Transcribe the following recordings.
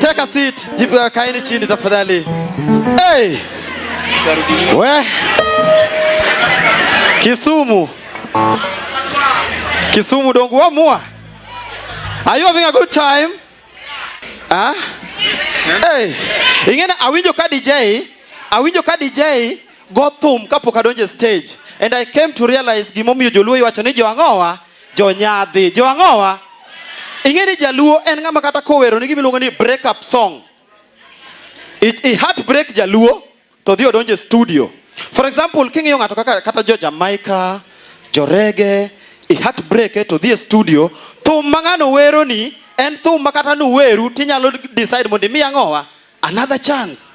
Take a seat. Jibu ya kaini chini tafadhali. Hey! We. Kisumu. Kisumu dongu wa mua. Are you having a good time? Ah? Hey. Ingene awinjo ka DJ, awinjo ka DJ go thum kapok adonje stage. And I came to realize gimomiyo joluo iwacho ni jo ang'owa jonyadhi jo ang'owa ing'e ni jaluo en ng'ama kata kowero ni gimiluongo ni break up song i, i heart break jaluo to dhi odonje studio for example king'iyo ng'ato kaka kata jo jamaica jo rege i heart break eh, to dhi e studio thum ma ng'ano wero ni en thum ma kata nuweru tinyalo decide mondo imi ang'owa another chance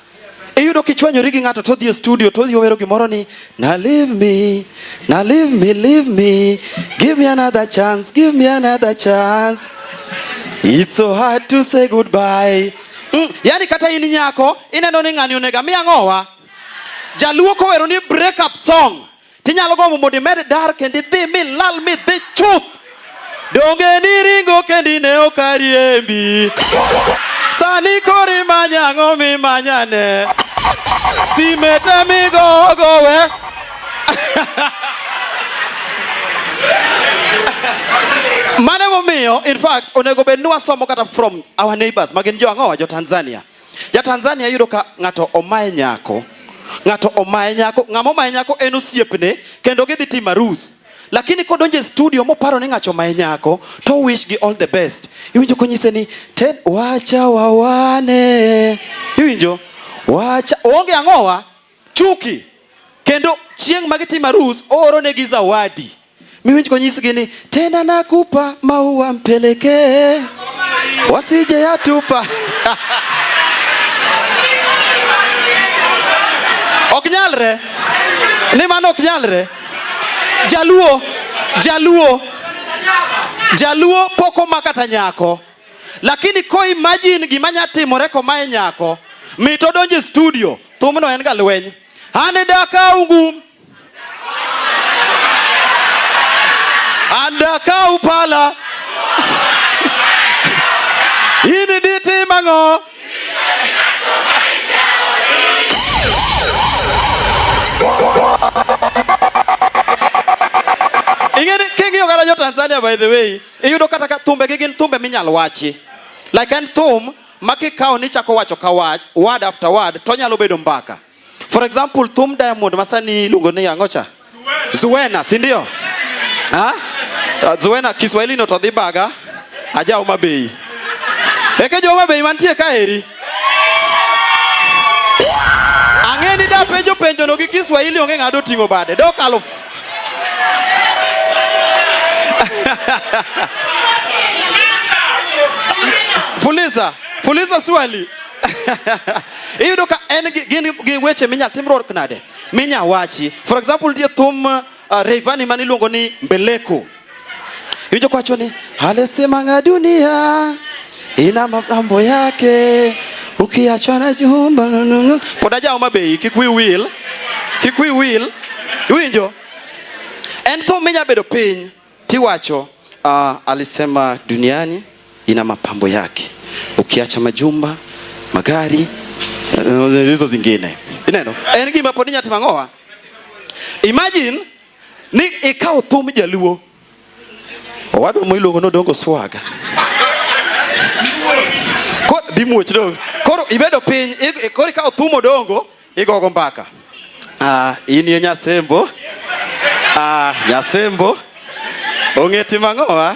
iyudo kichwanyori gi ng'ato todhi e studio todhi owero gimoro ni na leave me na leave me leave me give me another chance give me another chance it's so hard to say goodbye mm, yani kata in nyako ineno ni ng'ani onega mi ang'owa jaluo kowero ni break up song Tinyalo gombo mondo imed dar kendo idhi mi lal mi dhi chuth. Donge ni ringo kendi ne ok ariembi. Sani kori manya ang'o mi manyane. Sime te migo gowe. Mane momiyo in fact onego bed ni wasomo kata from our neighbors magin jo ang'owa jo Tanzania. Ja Tanzania yudo ka ng'ato omaye nyako, ng'ato omaye nyako, ng'ama omaye nyako en osiepne kendo gidhi timo arus. Lakini kodonjo e studio moparo ni ng'acho omaye nyako to wish gi all the best. Iwinjo konyise ni ten wacha wawane. Iwinjo? Wacha onge ang'owa chuki kendo chieng' ma gitimo arus ooronegi zawadi miwinj konyisgi ni tena nakupa maua mpelekee wasije yatupa ok nyalre ni mano ok nyalre jaluo jaluo jaluo pok oma kata nyako Lakini ko imagine gima nya timore komae nyako mit odonje studio thumno en ga lweny ane dakau ngum andakau pala ini ditimang'o ing'eni king'iyo kata jo Tanzania by the way Iyudo kata ka thumbe gi gin thumbe minyal wachi. Like en thum ma kikawo ni chako wacho ka wach, word after word to nyalo bedo mbaka. For example, thum Diamond ma sani iluongo ni ang'o cha? Zuena, si ndio? Ha? Uh, Zuena Kiswahili no to dhi baga. Aja Homa Bay. Eke jo Homa Bay mantie ka eri. Ang'e ni da penjo penjo no gi Kiswahili onge ng'ado ting'o bade. Dok aluf. Fuliza, fuliza swali. Iyudo ka en gin gi weche minya timruok nade? Minya wachi. For example, die thum uh, Rayvanny maniluongo ni Mbeleko. Iwinjo kwacho ni alisimanga dunia ina mambo yake ukiachana jumba nununu. Pod ajawo mabeyi kik wi wil, kik wi wil. Iwinjo? En thum minya bedo piny tiwacho uh, ah, alisema duniani ina mapambo yake ukiacha majumba, magari eh, hizo zingine. Ineno? En gima pod inya timo ang'owa? Imagine ni ikaw thum jaluo owadwa mo iluongo nodongo swaga dhi muoch dong koro ibedo piny koro ikaw thum odongo igogo mbaka ah, in ye nyasembo ah, nyasembo ong'eti mang'owa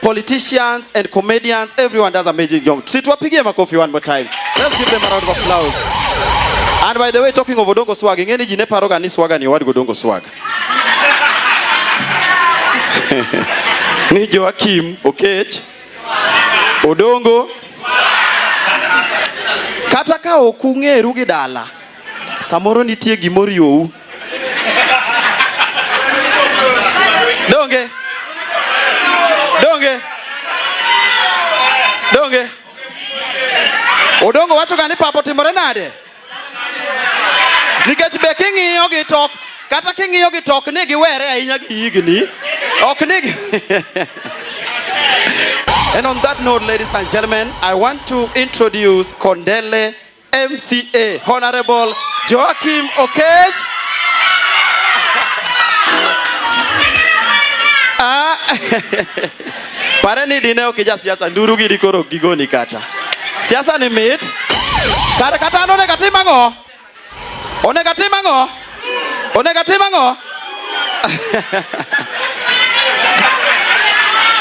politicians and comedians, everyone does amazing job. Si tuwapigie makofi one more time. Let's give them a round of applause. And by the way, talking of Odongo Swag, ingeni jine paroga ni swaga ni wadi Odongo Swag. Ni Joakim Okech. Odongo. Kata ka ok ung'eru gi dala. Samoro nitie gima oriwou. Donge? Donge? Donge? Odongo wacho ga ni papa otimore nade? Nikech be king'iyo gi tok kata king'iyo gi tok ni giwere ahinya gi higni ok ni And on that note, ladies and gentlemen, I want to introduce Kondele MCA Honorable Joachim Okech. Ah, pare ni dine ok ija siasa nduru giri koro gigoni kata siasa ni mit kare kata an onego atim ang'o onego atim ang'o onego atim ang'o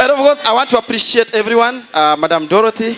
And of course, I want to appreciate everyone, uh, Madam Dorothy.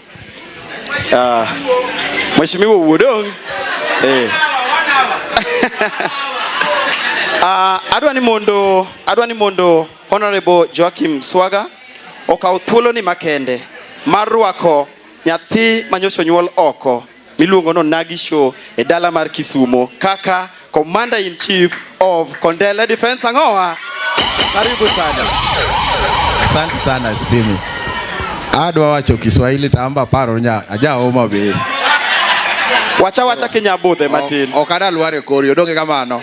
Uh, Mheshimiwa Uodong eh. uh, adwa ni mondo adwa ni mondo Honorable Joachim Swaga okaw thuoloni makende mar rwako nyathi manyocha onyuol oko miluongo no Nagi Show e dala mar Kisumo kaka Commander in Chief of Kondele Defense Angoa. Karibu sana. Asante sana Simi. Adwa wacho Kiswahili tamba paro nya ajaoma be. Wacha wacha kinyabudhe matin. Ok adal ware kori odonge kamano.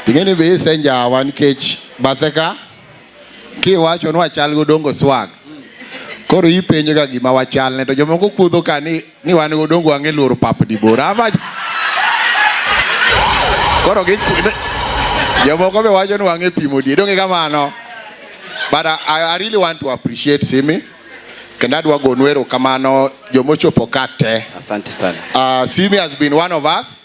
Ing'eni be isenjawa nikech bathe ka Kiwacho ni wachal go dongo swag. Koro ipenjo ga gima wachal ne to jomoko kuodho ka ni ni wan go dongo ang'e loro pap di bora ama Koro gi jomoko be wacho ni wang'e pimo di donge kamano. But I, I really want to appreciate Simi kendo adwa gonu erokamano jomochopo ka te. Asante sana. Uh, Simi has been one of us.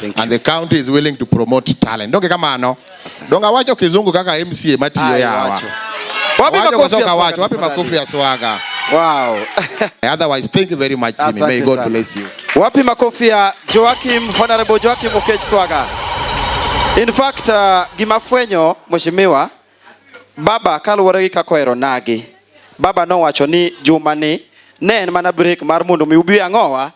Thank and you. the county is willing to promote talent donge kamano donge awacho kizungu kaka mca matiyo Aye, yawa wacho. Wapi Wacho makofi ya kutoka swaga wacho wapi tafadhali? makofi ya swaga Wow. otherwise thank you very much Simi. may Asante god sana. bless you Wapi makofi ya Joachim, Honorable Joachim Okech Swaga. In fact, uh, gimafwenyo mheshimiwa baba kaluwore gi kaka ohero nagi. Baba nowacho ni juma ni ne en mana break mar mondo mi ubi ang'owa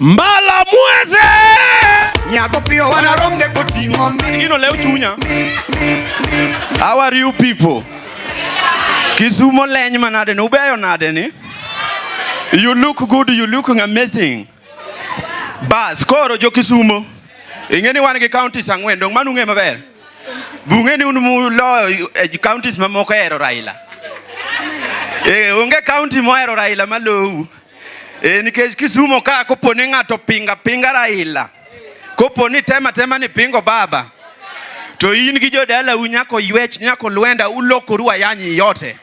Mbala mweze Nyako pio wana romde koting'o mi Ino leo chunya How are you people? Kisumo leny manade ni ubeyo nade ni? You look good, you looking amazing. Bas, koro jo Kisumo. Ing'e ni wan gi counties ang'wen, dong manu ng'e maber. Bung'e ni un muloyo e counties mamoko hero Raila. Eh, onge county mohero Raila malou. E, nikech Kisumo ka kopo ni ng'ato pinga pinga Raila, kopo ni tema tema ni pingo baba, to in gi jodala u nyako ywech nyako lwenda ulokoru ayanyi yote.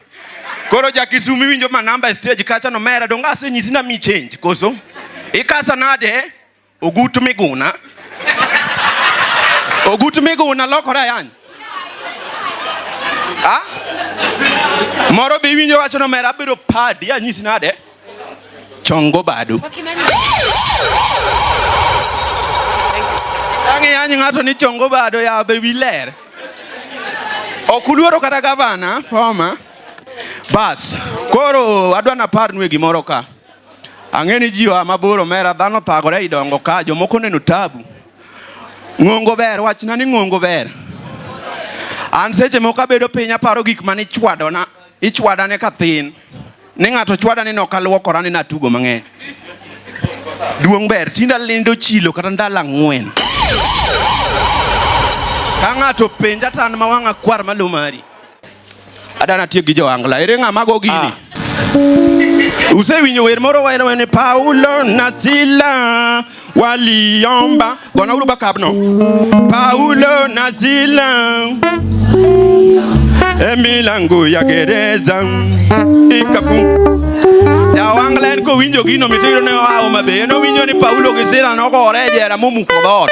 Koro ja Kisumo iwinjo ma namba e stage kacha no mera donga se nyisi na mi change koso ikasa nade Ogut Miguna. Ogut Miguna lokore ayany. Ha? Moro be iwinjo wacho ni omera abiro padi anyisi nade? Chongo badu. Ang'e anyi ng'ato ni chongo bado ya be wiler. Ok uluoro kata gavana former. Bas, koro adwa naparnue gimoro ka. Ang'e ni ji oa mabor omera, dhano thagore ei dongo ka, jomoko oneno tabu. Ng'ongo ber, wachna ni ng'ongo ber. An seche moko abedo piny aparo gik mane ichwadona, ichwadane ka thin. Ni ng'ato chwada ni nok aluokora ni natugo mang'eny. Duong' ber, tinda lindo chilo kata ndalo ang'wen. Ka ng'ato penja tan ma wang'a kwar malo mari. Adana tiek gi joangla. Ere ng'a mago gini? Ah. Usewinjo wer moro waen wen Paulo na Sila waliomba gona uru bakabno. Paulo na Sila emilango ya gereza ikapu jawangla en kowinjo gino mitiro ne oa Homa Bay en owinjo ni Paulo gi Sila nogore e jera momuko dhoot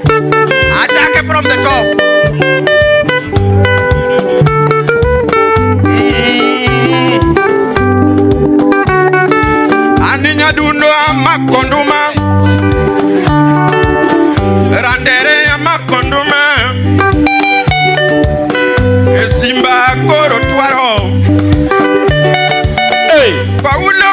Achake from the top. Aninya dundo amakonduma Randere amakonduma Esimba koro twaro Hey! Paulo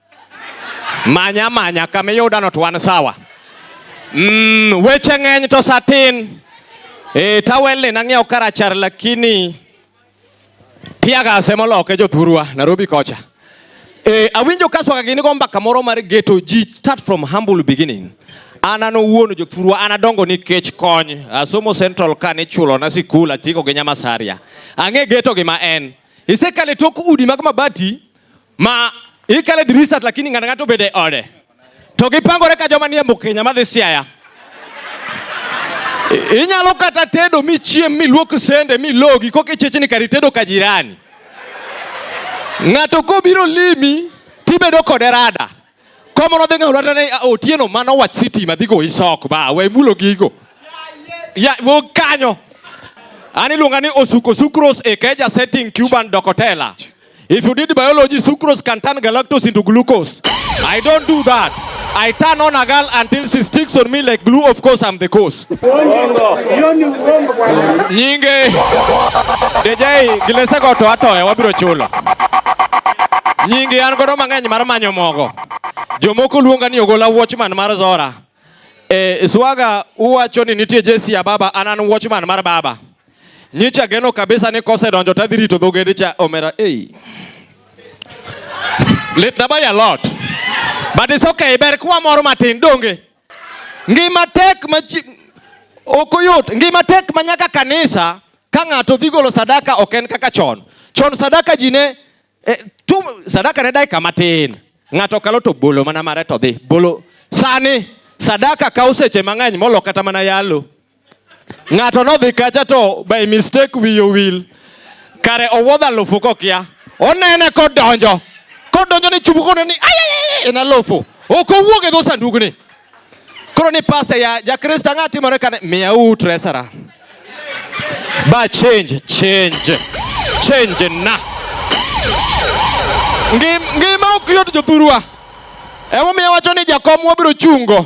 Manya manya kama iyudano to wan sawa. Mm, weche ng'eny to satin. Eh, tawelni nang'iewo karachar lakini piaga semo loke jothurwa Nairobi kocha. Eh, awinjo ka swaka gini go mbaka moro mar ghetto ji start from humble beginning. An an owuon jothurwa an adongo nikech kony. Asomo Central ka ni chulo na sikul atiko gi Nyamasaria. Ang'e ghetto gi ma en. Isekale tok udi mag mabati ma ikale dirisat lakini ng'ato ng'ato bede ode to gipangore ka joma nie Mukenya madhi Siaya. Inyalo kata tedo michiem miluok sende milogi koka ichechni kar itedo ka jirani. Ng'ato kobiro limi tibedo kode rada. Komo nodhi ng'aw lwata ne Otieno mano wach sitima dhi goyi sok ba we mulo gigo. Ya wo kanyo. An iluonga ni osuko sucrose e keja setting Cuban docotella. If you did biology, sucrose can turn galactose into glucose. I don't do that. I turn on a girl until she sticks on me like glue. Of course, I'm the cause. Nyinge DJ gilese go to atoya wabiro chulo. Nyinge an godo mang'eny mar manyo mogo. Jomoko luonga ni ogola watchman mar Zora. Eh, swaga uwacho ni nitie Jesse ya baba anan watchman mar baba. Nyicha geno kabisa ni kose donjo tadhi rito dhogede cha omera. Hey. Lit na by a lot. But it's okay, ber kwa moro matin donge. Ngima tek ma ok oyot, ngima tek ma nyaka kanisa ka ng'ato dhi golo sadaka ok en kaka chon. Chon sadaka ji ne eh, tu, sadaka ne dakika matin, ng'ato kalo to bolo mana mare to dhi bolo. Sani sadaka kawo seche mang'eny molo kata mana yalo. Ng'ato nodhi kacha to by mistake wiye owil. Kare owuodho alufu kokia. Onene kodonjo. Kodonjo ni chubu kono ni ayayay en alufu. Ok owuog e dho sandugni. Koro ni pasta ya jakristo ang'a timore kane miya u tresara. Ba change change change na. Ngima ok yot jothurwa. Emomiyo wacho ni jakom wabiro chungo.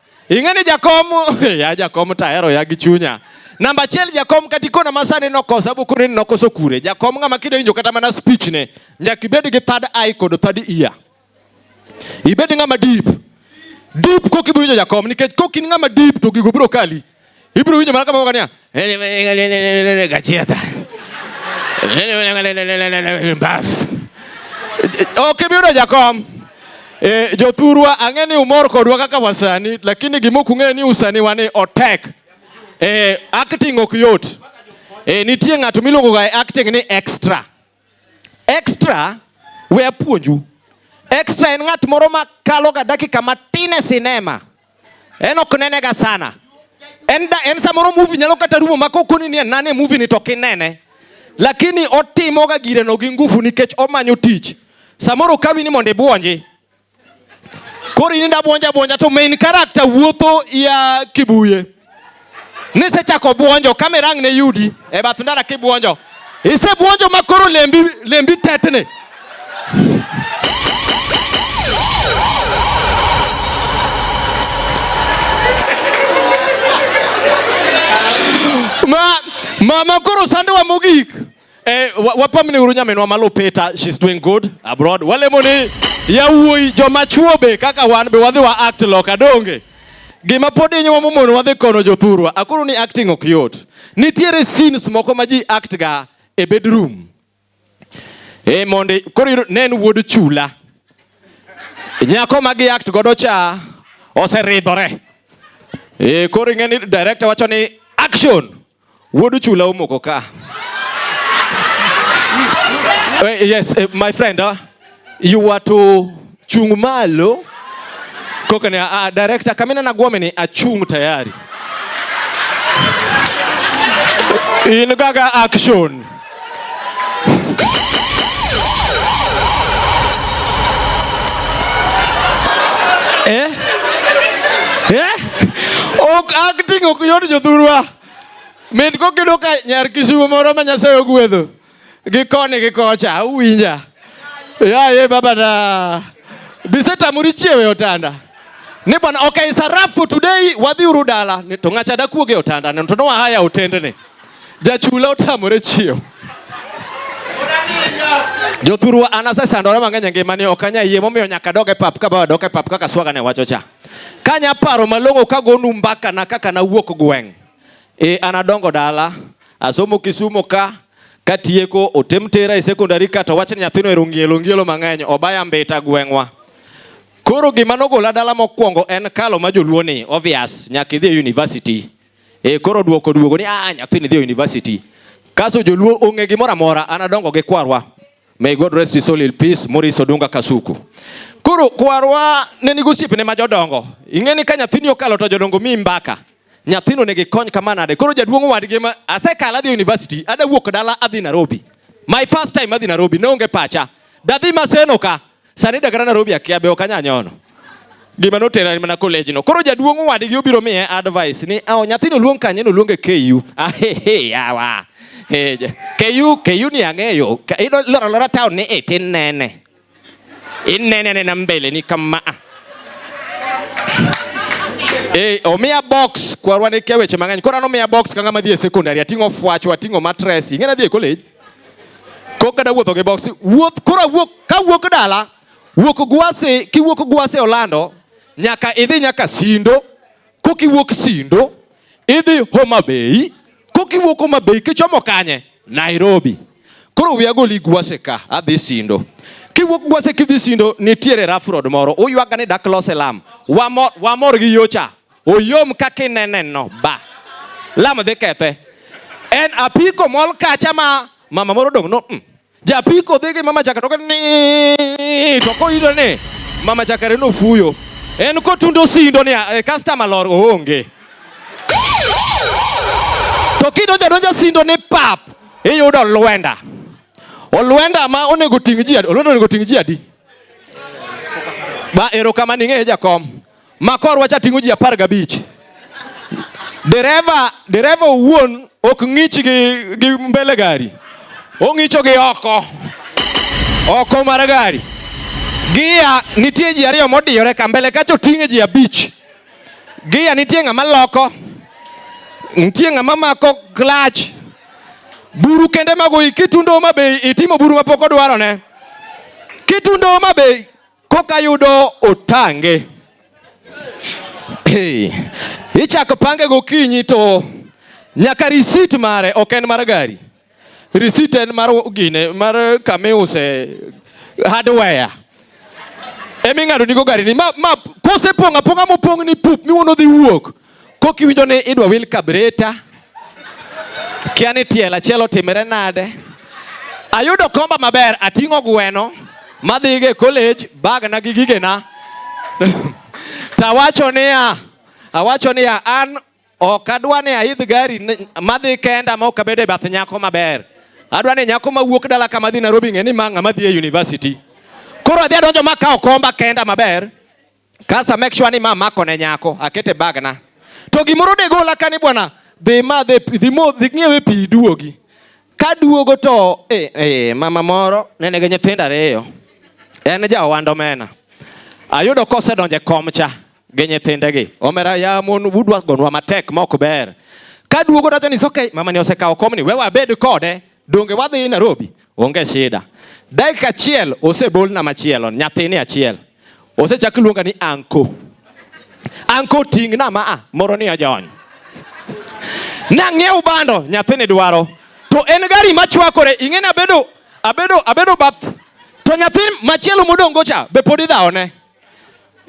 Ing'e ni jakom, ya jakom to ahero ya gi chunya. Namba achiel jakom kata ikona ma sani nokosa bu koni nokoso kure. Jakom ng'ama kidonjo kata mana speech ne nyaka ibed gi third eye kod third ear. Ibed ng'ama deep. Deep kok ibiro winjo jakom nikech kok in ng'ama deep to gigo biro kali. Ibiro winjo mana kamoko niya, gachieta. Mbaf. Ok ibi yudo jakom. E, jothurwa ang'e ni umor kodwa kaka wasani lakini gima ok ung'eyo ni usani wani otek. E, acting ok yot. E, nitie ng'ato miluongo ga acting ni extra. Extra we apuonju. Extra en ng'at moro ma kaloga dakika matin e sinema. En ok nenega sana. En, da, en samoro movie nyalo kata rumo ma kokoni ni nane movie ni to kinene. Lakini otimoga gireno gi nguvu nikech omanyo tich. Samoro kawi ni mondo ibuonji. Koro in inda buonja buonja to main character wuotho ya kibuye. Nisechako buonjo kamera ang' ne yudi e bath ndara kibuonjo. Ise buonjo ma koro lembi lembi tetni. Ma mama koro sandowa mogik. Eh, wapamni uru nyaminwa malo Peter, she's doing good abroad. Walemoni yawuoyi joma chuo be kaka wan be wadhi wa act loka donge. Gima pod inyo momono wadhi kono jothurwa. Akuru ni acting ok yot. Nitiere scenes moko ma ji act ga e bedroom. Eh, mondi koro ne en wuod chula. Nyako ma gi act godo cha oseridhore. Eh, koro ing'e ni director wacho ni action. Wuodu chula omoko ka. Eh, yes, eh, my friend, uh, you were to chung malo. Koka ni, uh, director, kamina na guome ni achung tayari. In gaga action. Eh? Eh? Ok acting ok yot jothurwa. Min kokido ka nyar kisumo moro ma Nyasaye ogwedho. Gi koni gi kocha uwinja. Ya ye baba na. Biseta muri chiewe otanda. Ni bwana okay sarafu today wadhi uru dala. Ni to ngacha da kuoge otanda. Ni to no haya otende ni. Jachula otamore chiew. Jothurwa an asesandore mang'eny e ngimani ok anya yie momiyo nyaka dog e pap ka bawa dok e pap kaka swaga ne wacho cha. Ka nya paro malong'o ka gonu mbaka na kaka nawuok gweng'. E an adongo dala, asomo Kisumo ka, katieko otem tera e secondary ka to wachni nyathino ero ngielo ngielo mang'eny obaya mbita gweng'wa. Koro gima nogola dala mokwongo en kalo ma joluo ni obvious nyaka idhi e university. E koro duoko duogo ni a ah, nyathini dhi university. Kaso joluo onge gimoro amora an adongo gi kwarwa. May God rest his soul in peace Maurice Odunga Kasuku. Koro kwarwa ne nigo osiepne ma jodongo. Ing'e ni ka nyathini okalo to jodongo mi mbaka. Nyathino ne gikony kama nade. Koro jaduong' wadgi ma asekalo adhi university, ada wuok dala adhi Nairobi. My first time adhi Nairobi, ne onge pacha. Dadhi Maseno ka. Sani dakara Nairobi akia be ok anya nyono. Gima notera ni mana college no. Koro jaduong' wadgi obiro miye advice ni awo nyathino luong kanye no luonge KU. Ah he he yawa. He KU KU ni ang'eyo. Ido lora lora town ni e tin nene. In nene nene mbele ni kama. Ah. Eh, omiya box kwarwa ne kia weche mang'eny. Koro an omiya box ka ng'ama dhi e secondary ating'o fwachwa, ating'o mattress. Ing'e nadhi e college. kok kata wuotho gi boksi wuoth koro awuok ka wuok dala wuok gwasi kiwuok gwasi olando nyaka idhi nyaka sindo kok iwuok sindo idhi homa bay kok iwuok homa bay kichomo kanye nairobi koro wiya goli gwasi ka adhi sindo kiwuok gwasi kidhi sindo nitiere rough road moro uywaga ni dak lose lam wamor, wamor gi yocha Oyom kaka ineneno ba. Lamo dhi kethe. En apiko mol kacha ma mama moro dong no. Mm. Japiko dhi gi mama chaka to ni to koyudo ni mama chaka reno fuyo. En kotundo sindo ni e, customer lor oonge. To kido jadonja sindo ni pap iyudo lwenda. Olwenda ma onego ting' ji adi? Olwenda onego ting' ji adi? Ba erokamano ing'eyo jakom. Makor wacha ting'o ji apar gabich. Dereva dereva owuon ok ng'ich gi, gi mbele gari, ong'icho gi oko oko mar gari. Gia nitie ji ariyo modiyore ka mbele kacha oting'e ji abich. Gia nitie ng'ama loko, nitie ng'ama mako klach. Buru kende mago kitundo ma be itimo buru ma pok odwarone. Kitundo ma be koka yudo otange. Hey, ichako pange gokinyi to nyaka risit mare ok en mar gari, risit en mar gine mar kamiuse hardware eming'ado nigo gari ni ma, ma kosepong' apong'a mopong' ni pup miwono dhi wuok Kok iwinjo ni idwa wil kabreta, kia ni tiel achiel otimre nade. Ayudo komba maber, ating'o gweno madhiga e college, bagna gi gigena tawacho niya, awacho niya an ok adwa ni aidh gari madhi kenda ma ok abed e bath nyako maber. Adwa ni nyako mawuok dala kama dhi Nairobi ng'e ni ma ng'ama dhi e university. Koro adhi adonjo ma kawo komba kenda maber. Kasa make sure ni mama ako ne nyako akete bag na. To gimoro de gola kani bwana dhi ma dhi dhi mo dhi ng'iewe pi duogi. Ka duogo to eh, eh, mama moro nene gi nyithindo ariyo. En ja ohand omena. Ayudo kosedonje kom cha gi nyithindegi. Omera ya mon budwa gonwa matek mok ber. Ka duogo dacho ni okay mama ni osekawo kom ni we wabed kode. Donge wadhi Nairobi? Onge shida. Dakika achiel osebolna machielo, nyathini achiel. Osechak luonga ni anko. Anko ting'na ma a moro ni ojony. Nang'iew bando, nyathini dwaro. To en gari machwakore, ing'eni abedo abedo abedo bath. To nyathi machielo modongo cha be pod idhawone.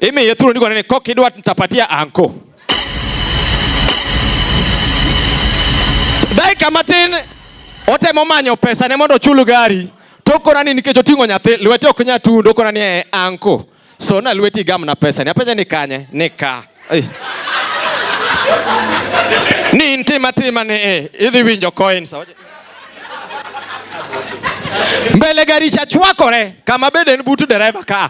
Imi yethuru ndiko nene kok idwa nitapatia anko. Dakika matin otemo manyo pesa ne mondo ochul gari tokona ni nikech oting'o nyathi lwete ok nya tundo okona ni e anko so na lweti gam na pesa ni apenja ni kanye ni ka hey. ni ntima tima ni e idhi winjo coins mbele gari chachwakore kama bende en but dereva ka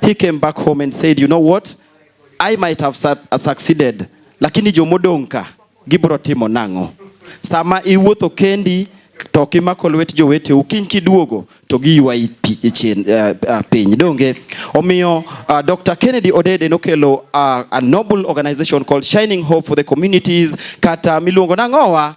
He came back home and said, you know what? I might have su uh, succeeded, lakini jomodong' ka gibro timo nang'o? Sama iwuotho kendi to kimako lwet joweteu kiny kiduogo to giywayi chien uh, uh, piny donge omiyo uh, Dr. Kennedy Odede nokelo uh, a noble organization called Shining Hope for the Communities kata miluongo nang'owa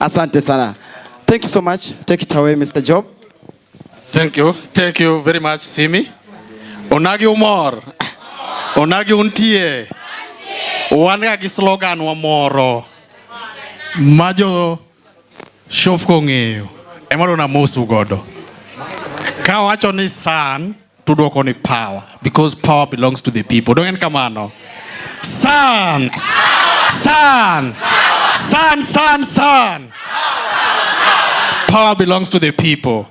Asante sana. Thank you so much. Take it away, Mr. Job. Thank you. Thank you very much, Simi. Onagi umor. Onagi untie. Wan ga gi slogan wa moro ma jo shofko ng'eyo ema dona mosu godo ka wacho ni san Tudwoko ni power because power belongs to the people. Dongen kamano. San. San. San, san, san. Power belongs to the people.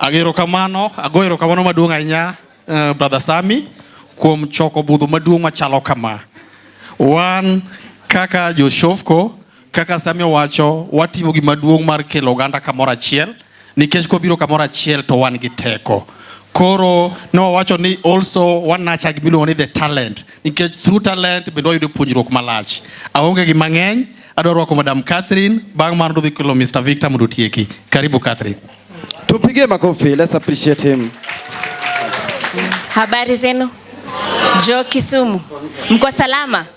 Agero kamano, agoero kamano maduong' ahinya uh, Brother Sami kuom choko budho maduong' machalo kama. Wan kaka Joshofko Kaka Sami owacho, watimo gima duong' mar kelo oganda kamoro achiel nikech kobiro kamoro achiel to wan gi teko. Koro ne wawacho ni also wanacha gimiluongo ni the talent nikech through talent bende wayudo puonjruok malach. Aonge gi mang'eny, adwa rwako Madam Catherine, bang' mano dhi kelo Mr. Victor mondo otieki. Karibu Catherine. Tupigie makofi, let's appreciate him. Habari zenu? Jo Kisumu. Mko salama?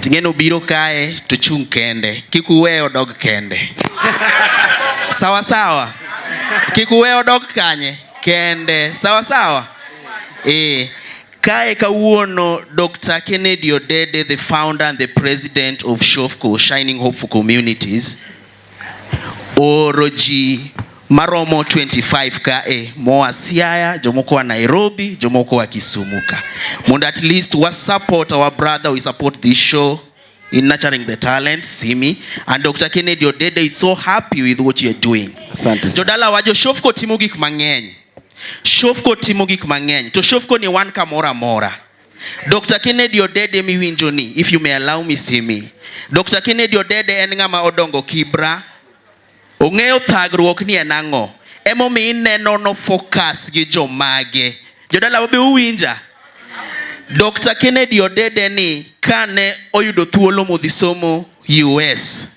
Ting'eno obiro kae to chung' kende, kik uwe odog kende. Sawa sawa, kik uwe odog kanye kende. Sawa sawa, eh. Kae kawuono Dr. Kennedy Odede, the founder and the president of Shofco, Shining Hope for Communities, ooro ji maromo 25 kae moa Siaya, jomoko wa Nairobi, jomoko wa Kisumu ka mondo at least wa support our brother, we support this show in nurturing the talents Simi and Dr. Kennedy Odede is so happy with what you are doing. Asante. Jodala wajo Shofco timo gik mang'eny. Shofco timo gik mang'eny. To Shofco ni wan kamora mora. Dr. Kennedy Odede miwinjo ni, if you may allow me see me. Dr. Kennedy Odede en ng'ama odongo Kibra. Ong'eyo thagruok ni en ang'o. Emomiyo ineno no focus gi jomage. Jodala be uwinja? Dr. Kennedy Odede ni kane oyudo thuolo modhi somo US.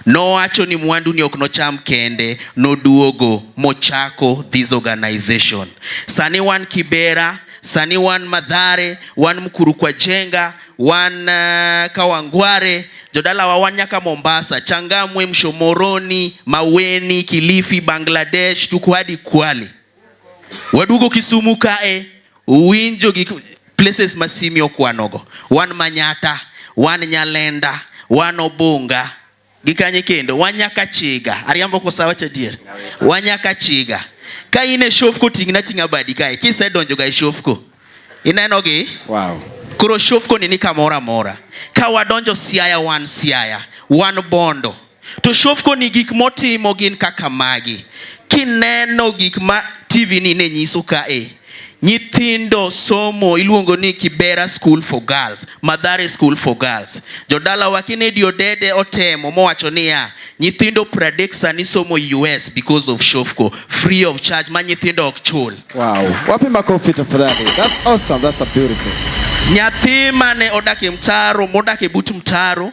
Nowacho ni mwandu ni ok nocham kende, noduogo mochako this organization. Sani wan Kibera, sani wan Madhare, wan Mkuru kwa Jenga, wan uh, Kawangware, jodalawa wan nyaka Mombasa, Changamwe, Mshomoroni, Maweni, Kilifi, Bangladesh, tuko hadi Kwale. Waduogo Kisumu kae, winjo gi places ma Simi okwanogo. Wan Manyata, wan Nyalenda, wan Obunga, gi kanye kendo, wan nyaka Chiga. Ariambo kosa wacho adier? Wan nyaka Chiga. Ka in e Shofco ting'na ting'a badi kae, kisedonjo ga e Shofco. Inenogi? Wow. Koro Shofco ni ni kamoro amora. Ka wadonjo Siaya wan Siaya, wan Bondo. To shofko ni gik motimo gin kaka magi. Kineno gik ma TV ni ne nyiso ka e nyithindo somo iluongo ni Kibera School for Girls, Madhare School for Girls. Jodala wa Kennedy Odede otemo mowacho niya, nyithindo pradek sani somo US because of Shofco, free of charge ma nyithindo ok chul. Wow. Wapi makofi tafadhali. That's awesome. That's a beautiful. Nyathi mane odak e mtaro, modak e but mtaro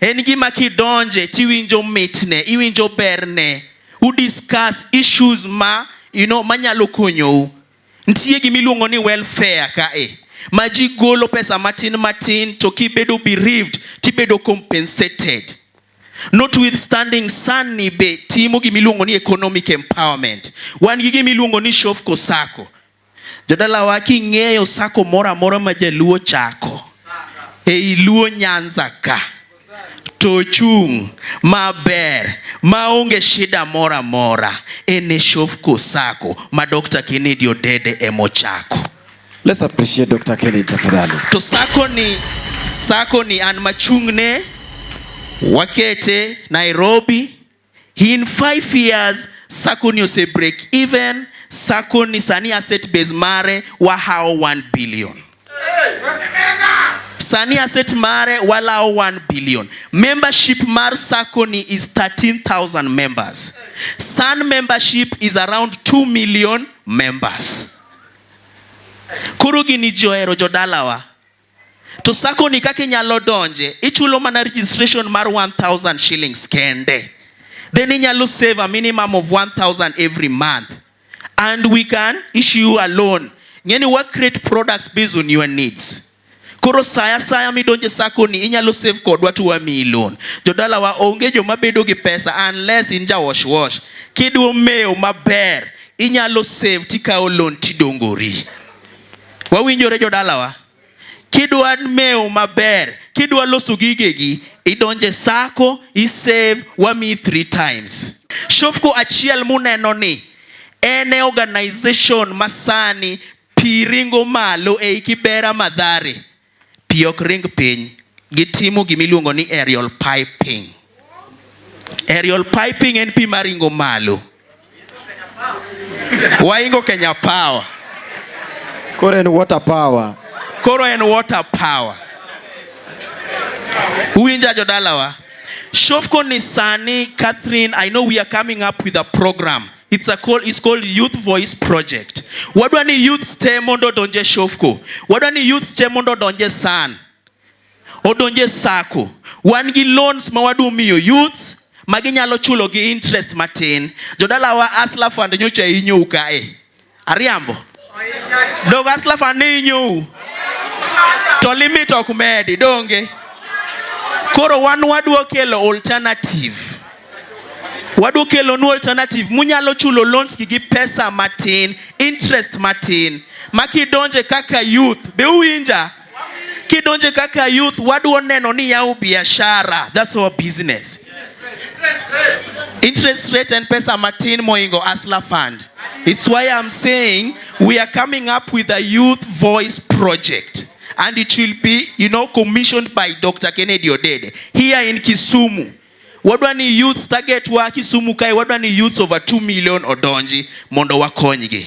En gima kidonje tiwinjo mitne, iwinjo berne. U discuss issues ma you know manyalo konyou. Nitie gima iluongo ni welfare ka e ma ji golo pesa matin matin to kibedo bereaved tibedo compensated. Notwithstanding san ni be timo gima iluongo ni economic empowerment. Wan gi gima iluongo ni Shofco Sacco. Jodalawa king'eyo sako moro amora ma jaluo chako ei luo Nyanza ka to ochung' maber maonge shida moro amora en e Shofco Sacco ma Dr. Kennedy Odede emochako. Let's appreciate Dr. Kennedy tafadhali. To sako ni sako ni an machung'ne wakete Nairobi In five years sacco ni ose break even sacco ni sani asset base mare wahawo 1 billion sani asset mare walawo 1 billion membership mar sacco ni is 13000 members san membership is around 2 million members koro gini johero jodalawa to sako ni kaka inyalo donje ichulo mana registration mar 1000 shillings kende then inyalo save a minimum of 1000 every month and we can issue you a loan ngeni wa create products based on your needs koro saya saya midonje sako ni inyalo save kodwa to wamiyi loan jodala wa onge joma bedo gi pesa unless in ja wash wash kidwa mewo maber inyalo save tikawo loan tidongori Wawinjore jodalawa, kidwa mewo maber, kidwa loso gigegi, idonje sako, isave, wamiyi three times. Shofco achiel muneno ni en e organization masani pi ringo malo ei Kibera Madhare. Pi ok ring piny. Gitimo gima iluongo ni aerial piping. Aerial piping en pi maringo malo. Waingo Kenya Power. Koro en water power. Koro en water power. Uwinja jodalawa? Shofco ni sani, Catherine, I know we are coming up with a program. It's a call, it's called Youth Voice Project. Wadwa ni youth te mondo donje Shofco. Wadwa ni youth te mondo donje San. Odonje Sako. Wan gi loans ma wadu miyo youth ma ginyalo chulo gi interest matin. Jodalawa Asla Fund nyocha inyou kae. Ariambo. Dog aslafa ni inyou. To limit ok medi donge. Koro wan wadwa kelo alternative. Wadwa kelo nu alternative munyalo chulo loans gi pesa matin, interest matin. Makidonje kaka youth be uwinja? Kidonje kaka youth wadwa neno ni yaw biashara, that's our business. Interest rate and pesa matin moingo Asla fund. It's why I'm saying we are coming up with a youth voice project and it will be you know commissioned by Dr. Kennedy Odede here in Kisumu. Wadwa ni youth target wa Kisumu kae wadwa ni youths over 2 million odonji mondo wakonygi.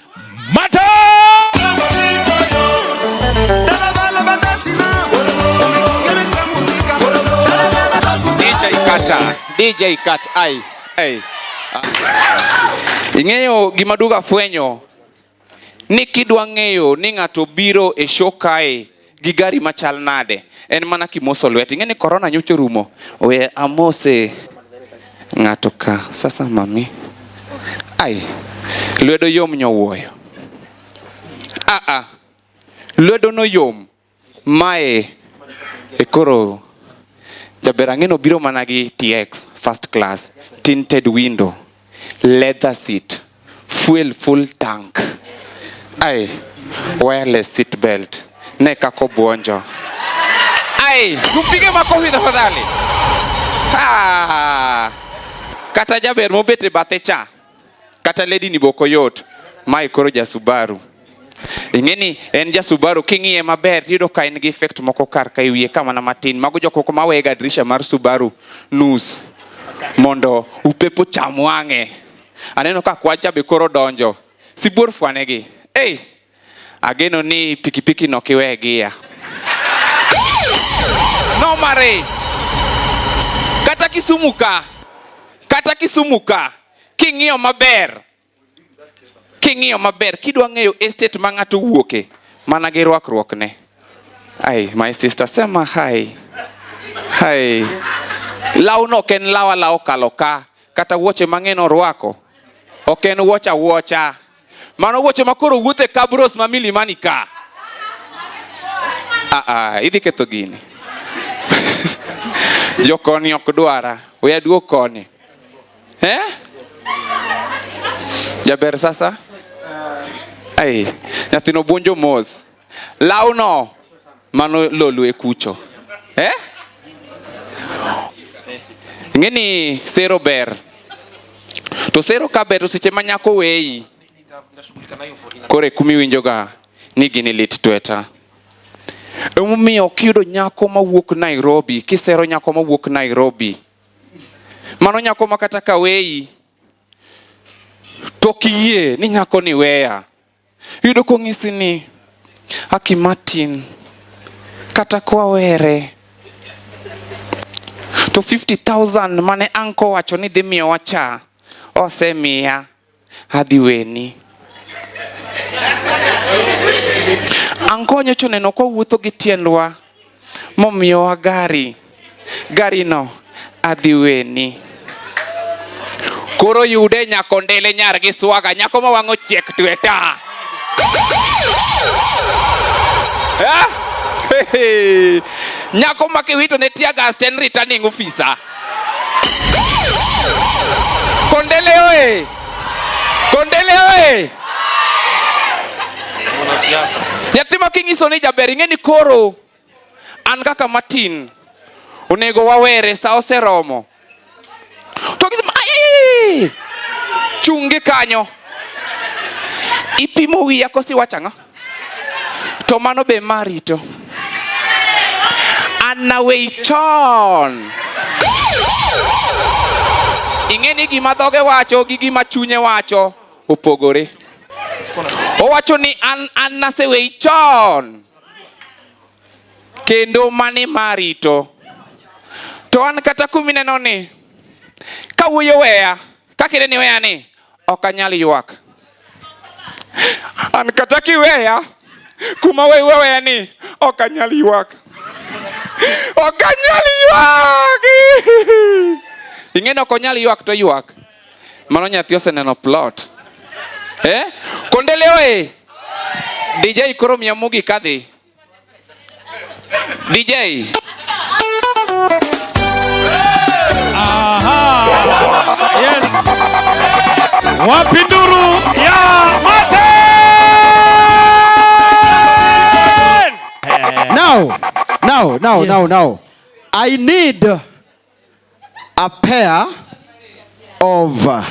DJ Kat ai ai. Ing'eyo gima duga fwenyo ni kidwa ng'eyo ni ng'ato biro e show kae gi gari machal nade en mana kimoso lweti ing'e ni korona nyocha orumo we amose ng'ato ka sasa mami ai lwedo yom nyowuoyo aa lwedo noyom mae e koro jaber ang'eno biro mana gi tx first class tinted window leather seat, fuel full tank, ai wireless seat belt. Ne kako buonjo. Ai, tupige makofi tafadhali. Ah. Kata jaber mobete bathe cha. Kata lady ni boko yot. Mai koro ja Subaru. ing'eni en ja Subaru king'iye maber tiyudo ka en gi effect moko kar ka iwiye ka mana matin mago jok moko maweyega drisha mar Subaru nus mondo upepo cham wang'e aneno ka kwacha be koro donjo sibuor fwanegi hey, ageno ni pikipiki no kiwe gia nomare kata Kisumu ka kata Kisumu ka king'iyo maber King'iyo maber, kidwa ng'eyo estate ma ng'ato wuoke, mana gi rwakruokne. Ai, my sister, sema hai. Hai. Lawno ok en lawa lawo kalo ka, kata wuoche mang'eny orwako. Ok en wuocha wuocha. Mano wuoche ma koro wuothe kabros ma milimani ka. Ah, ah, idhi ketho gini. Jokoni ok dwara. We aduog koni. eh? Jaber sasa ai nyathino buonjo mos lawno mano lolwe kucho eh? Ng'e ni sero ber to sero ka ber to seche ma nyako weyi koro e kuma iwinjoga ni gini lit tweta emomiyo kiyudo nyako mawuok Nairobi kisero nyako mawuok Nairobi Mano nyako ma kata ka weyi to kiyie ni nyako ni weya. Yudo kong'isi ni Aki Martin kata kwawere to 50,000 mane anko wacho ni dhi miyowa cha osemiya. Adhi weni. Anko nyocha oneno ka wawuotho gi tiendwa momiyowa gari. Garino adhi weni. Koro yude nyako ndele nyar gi swaga nyako ma wang'o chiek tweta. Eh? Nyako ma kiwito ne tear gas to en returning officer. Kondele oye! Kondele oye! Nyathi ma kinyiso ni jaber ing'e ni koro an kaka Martin onego wawere sa oseromo. To gisema chungi kanyo ipimo wiya kosi wachang'a to mano be marito anawei chon ing'e ni gima dhoge wacho gi gima chunye wacho opogore owacho ni an, an nasewei chon kendo mani marito to an kata kumineno ni kawuoyo weya kakine ni weya ni ok anyal ywak. An kata kiweya kuma we weweya ni ok anyal ywak. Ok anyal ywak. Ing'e ni ok onyal ywak to ywak. Mano nyathi oseneno plot. Eh? Kondeleoe. DJ koro mia mugi kadhi. DJ. Aha. Yes. Wapinduru ya mate. Now, now, now, yes. now, now. I need a pair of uh,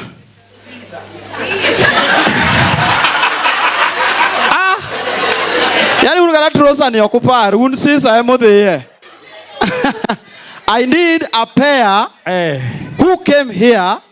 ah, yani un kata trosa ni ok upar un sisa ema odhiye I need a pair eh. who came here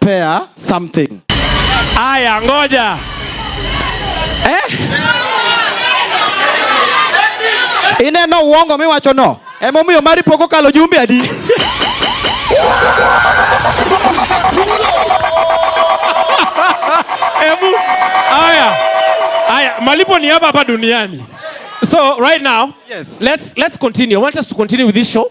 pair something. Aya, ngoja eh? Ineno uongo miwacho no emomiyo mari pok okalo jumbe adi Ebu, aya, aya, malipo ni hapa hapa duniani. So right now, yes. let's, let's continue. I want us to continue with this show.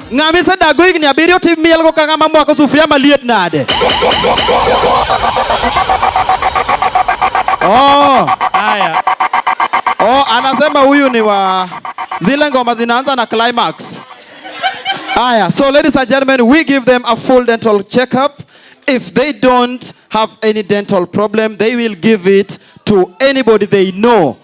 Ng'ama isedago higni abiriyo to imielgo ka ng'ama mwako sufuria maliet nade? Oh, Haya. oh, anasema huyu ni wa zile ngoma zinaanza na climax. Aya, so ladies and gentlemen, we give them a full dental checkup. If they don't have any dental problem, they will give it to anybody they know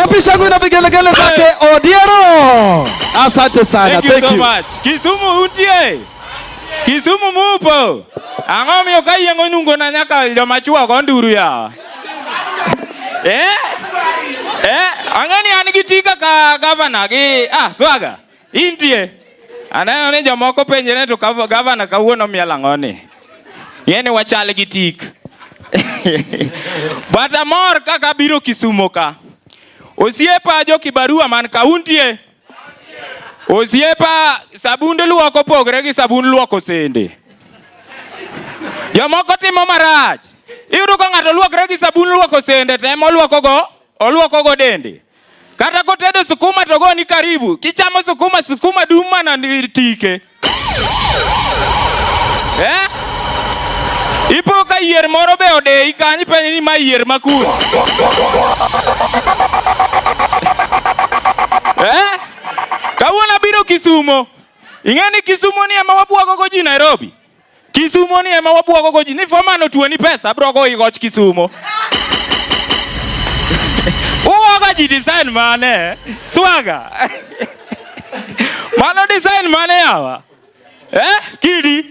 Wapi shangwe na vigelegele zake Odiero? Asante sana. Thank you Thank so you. much. Kisumu utie. Kisumu mupo. Ang'o miyo ka yeng' onungo na nyaka joma chwo go nduru ya. Eh? Eh, ang'e ni an gi tika ka gavana gi ah swaga. Intie. Aneno ni jomoko penjre to gavana kawuono miel ang'o ni? Ng'e ni wachal gi tik. But amor kaka abiro Kisumo ka. Osiepa jo Kibarua man kauntie. Osiepa sabund luoko pogre gi sabund luoko sende. Jomoko timo marach. Iyudo ka ng'ato luokre gi sabun luoko sende to ema oluokogo oluokogo dende. Kata kotedo sukuma to goni karibu. Kichamo sukuma, sukuma dum mana tike. Eh? Ipo ka yier moro be odeyi kanyo penye ni ma yier ma kun. Eh? Kawuono abiro Kisumo. Ing'e ni Kisumo ni ema wabwagogo ji Nairobi. Kisumo ni ema wabwogo goji ni fomano tuo ni pesa bro go igoch Kisumo. Uwoga ji design mane? Swaga. Mano design mane yawa? Eh, kidi.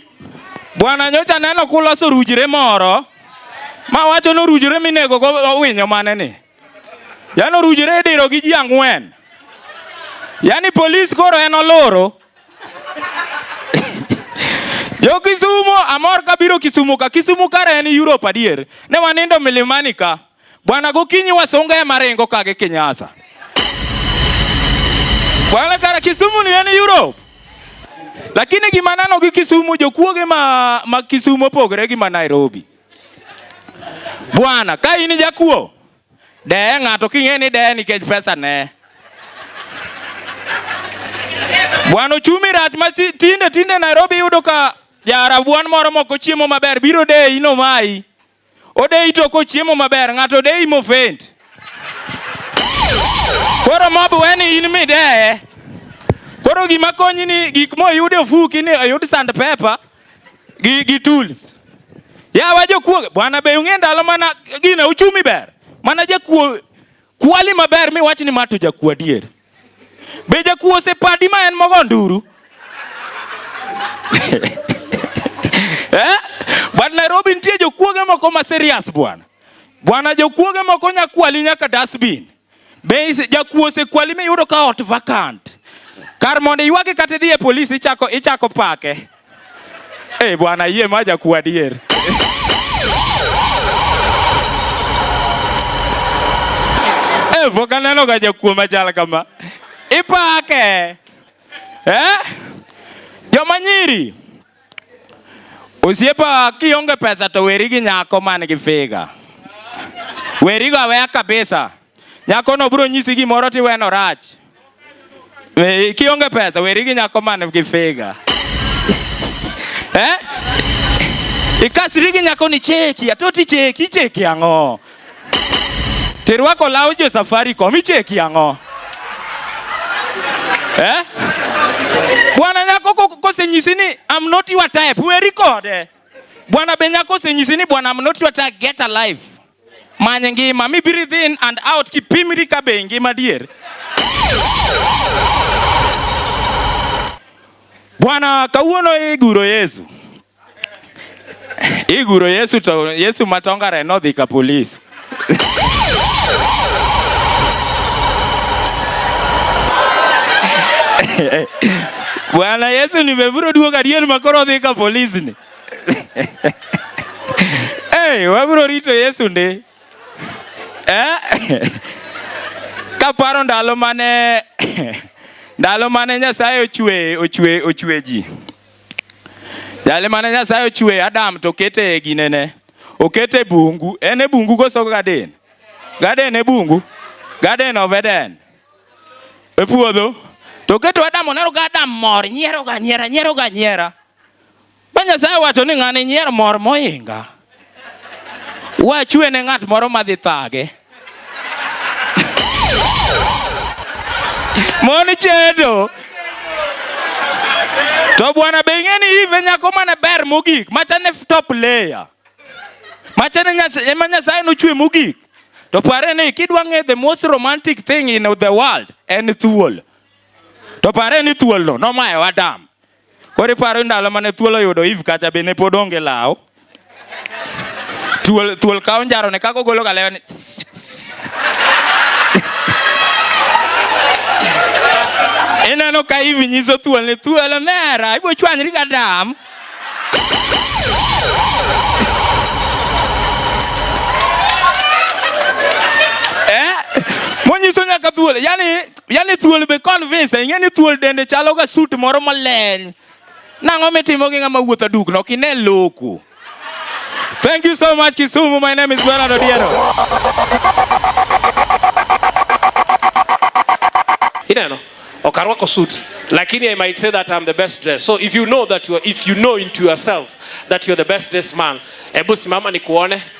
Bwana nyocha neno kuloso rujire moro. Ma wacho no rujire minego go winyo mane ni. Yano rujire diro gi ji ang'wen. Yaani polis koro en oloro. Jo Kisumo amor ka biro Kisumo ka. Kisumo kare en Europe adier. Ne wanindo milimani ka. Bwana gokinyi wasunga e marengo ka gi Kinyasa. Bwana kare Kisumo ni en Europe. Lakini gima nano gi Kisumo jokuoge ma, ma Kisumo pogre gi ma Nairobi. Bwana ka in jakuo Deye ng'ato king'e ni deye nikech pesa ne. Bwana ochumi rach ma tinde tinde Nairobi yudo ka jarabuan moro moko chiemo maber biro deyi no mai. Odeyi to kochiemo maber ng'ato odeyi mofent. Koro mob weni in mideye. Koro gima konyi ni gik moyude ofuki ni oyud sand pepa gi, gi tools ya wa jokuo bwana be ung'e ndalo mana gina uchumi ber mana jakuo kwali maber mi wach ni mato jakuo adier be jakuo osepadi ma en mogo nduru eh? but Nairobi nitie jokuoge moko ma serious bwana bwana jokuoge moko nyakwali nyaka dustbin Be jakuo osekwali miyudo ka ot vacant? Kar mondo iywage kata idhi e polis ichako ichako pake. Eh, bwana yie ma jakuo adier. Eh, pok aneno ga jakuo machal kama. Ipake. Eh? Joma nyiri. Osiepa kionge pesa to weri gi nyako man gi figa. Weri go aweya kabisa. Nyako no bro nyisi gimoro ti weno rach. We, kionge pesa weri gi nyako man gi figa. eh? Ikasri gi nyako ni cheki, atoti cheki, cheki ang'o? Terwako law jo Safaricom icheki ang'o? Eh? Bwana nyako kosenyisi ni I'm not your type, weri kode. Bwana be nyako osenyisi ni bwana I'm not your type, get alive. Many ngima, mi breathe in and out kipimri ka be ngima dier. Bwana kawuono iguro Yesu. Iguro Yesu to Yesu matongare nodhi ka polis. Bwana Yesu nimeburo duogo adier ma koro odhi ka polis ni. Hey, wabro rito Yesu ndi. Eh? Kaparo ndalo mane ndalo mane Nyasaye ochwe ochwe ochwe ji. Jali mane Nyasaye ochwe Adam to kete e ginene. Okete bungu. En e bungu koso gaden. Gaden e bungu. Gaden of Eden. E puodho. To keto Adam oneno ka Adam mor nyiero ga nyiera nyiero ga nyiera. Ma Nyasaye wacho ni ng'ani nyier mor moinga. Wachwe ne ng'at moro madhi thage. Mon chedo. To bwana be ing'e ni ive nyako mane ber mogik machane top layer. Machane nyasaye ma nyasaye nochwe mogik. To pare ni kidwa ng'e the most romantic thing in the world en thuol. To pare ni thuolno nomayo Adam. Koro iparo ndalo mane thuol oyudo Eve kacha be ne pod onge law. Thuol thuol kawo njaro ne kako golo galewa ni Ineno ka Eve nyiso thuol ni thuol omera ibo chwanyri ka dam. Eh? Monyiso nyaka thuol. Yaani Yani thuol be convince, ing'e ni thuol dende chalo ga suit moro maleny. Nang'o mitimo gi ng'ama wuotho dukno? Ok ine loku. Thank you so much Kisumu. My name is Bernard Odiero. Ineno, ok arwako suit, lakini I might say that I'm the best dressed. So if you know that you are, if you know into yourself that you're the best dressed man, ebu simama nikuone.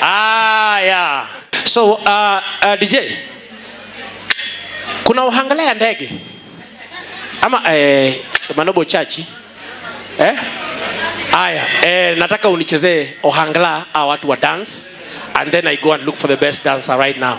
Ah, yeah. So uh, uh, DJ, kuna uhangala ya ndege ama eh, Manobo chachi eh? Aya, eh, nataka unichezee ohangla a watu wa dance and then I go and look for the best dancer right now.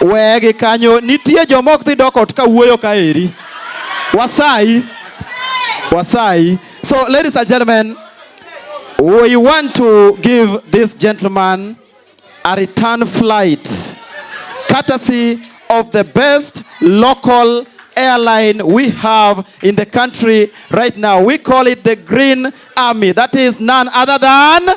Wegi kanyo nitie joma ok dhi dok ot ka wuoyo ka eri. Wasayi. Wasayi. So ladies and gentlemen, we want to give this gentleman a return flight courtesy of the best local airline we have in the country right now. We call it the Green Army. That is none other than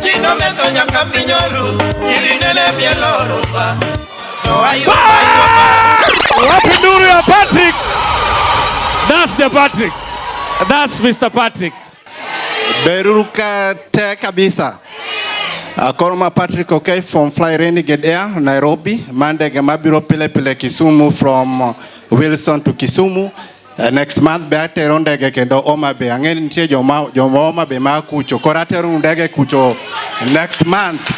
Chinometo nyaka finyoru, irinene mielo rumba. To ayuba yuba. Wapi nuru ya Patrick? That's the Patrick. That's Mr. Patrick. Beruruka te kabisa. Akoroma Patrick okay from Fly Renegade Air Nairobi. Mandege mabiro pile pile Kisumu from Wilson to Kisumu. Uh, next month be atero ndege kendo Homa Bay. Ang'e nitie joma joma Homa Bay ma kucho. Koro atero ndege kucho next month.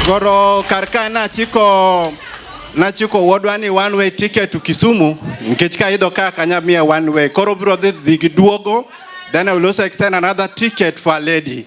Koro kar ka nachiko nachiko wuodwa ni one way ticket to Kisumu nikech ka idho ka kanya miya one way. Koro bro dhi gi duogo then I will also extend another ticket for a lady.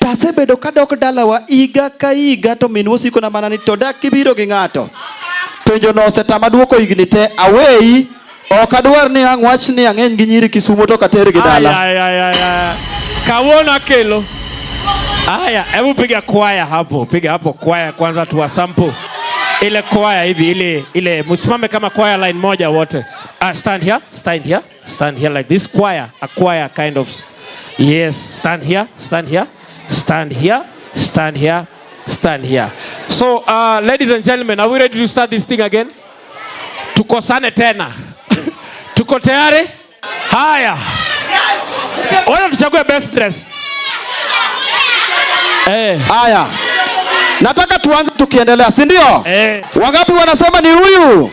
To asebedo kadok dalawa higa ka higa to minwa osikona mana ni to dak kibiro gi ng'ato. Penjono osetama dwoko higni te aweyi ok adwar ni ang' wach ni ang'eny gi nyiri Kisumo to kater gi dala. Ay, ay, ay, ay. Kawuono akelo. Haya, hebu piga kwaya hapo, piga hapo kwaya kwanza tuwa sample. Ile kwaya hivi ile ile msimame kama kwaya line moja wote. Ah, stand here, stand here. Stand here like this choir, a choir kind of. Yes, stand here, stand here, stand here, stand here, stand here. So, uh, ladies and gentlemen, are we ready to start this thing again? Tukosane tena. Tuko tayari? Haya. Ona tuchague best dress. Eh. Haya. Nataka tuanze tukiendelea, si ndio? Eh. Wangapi wanasema ni huyu?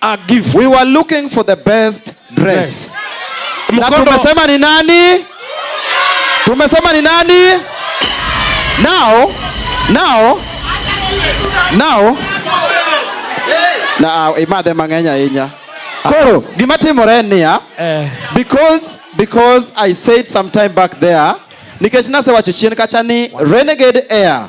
a gift. We were looking for the best dress. Yes. Na tumesema ni nani? Tumesema ni nani? Now, now, now, na imadhe ah, mang'eny ahinya koro gima timore en niya eh. because because i said some time back there nikech nasewacho chien kacha ni renegade air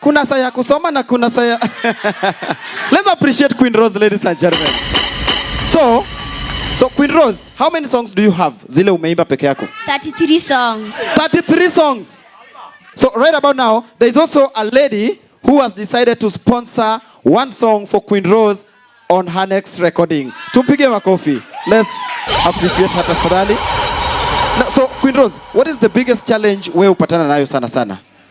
Kuna saa ya kusoma na kuna saa ya Let's appreciate Queen Rose ladies and gentlemen. So, so Queen Rose, how many songs do you have? Zile umeimba peke yako? 33 songs. 33 songs. So right about now, there is also a lady who has decided to sponsor one song for Queen Rose on her next recording. Tumpige makofi. Let's appreciate her tafadhali. So Queen Rose, what is the biggest challenge wewe upatana nayo sana sana?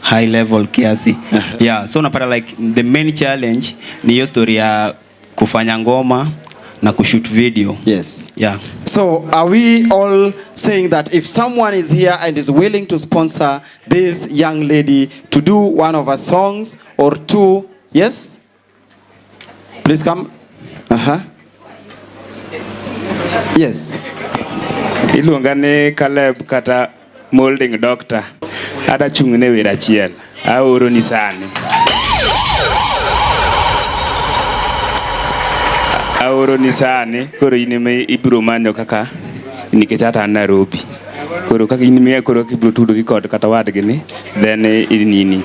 high level kiasi yeah, so unapata like the main challenge ni hiyo story ya kufanya ngoma na kushoot video yes yeah so are we all saying that if someone is here and is willing to sponsor this young lady to do one of her songs or two yes Please come. Aha. Yes. Iluonga ni Caleb kata molding doctor. Ada chung' ne wira achiel. Aoro ni sani. Aoro ni sani koro in ema ibiro manyo kaka nikech ata Nairobi. koro kaka in miya koro kibiro tudori kod kata wadgi ni then inini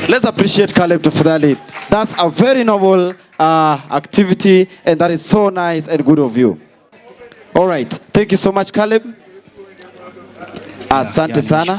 Let's appreciate Caleb tafadhali. That's a very noble uh, activity and that is so nice and good of you. All right. Thank you so much Caleb. Asante sana.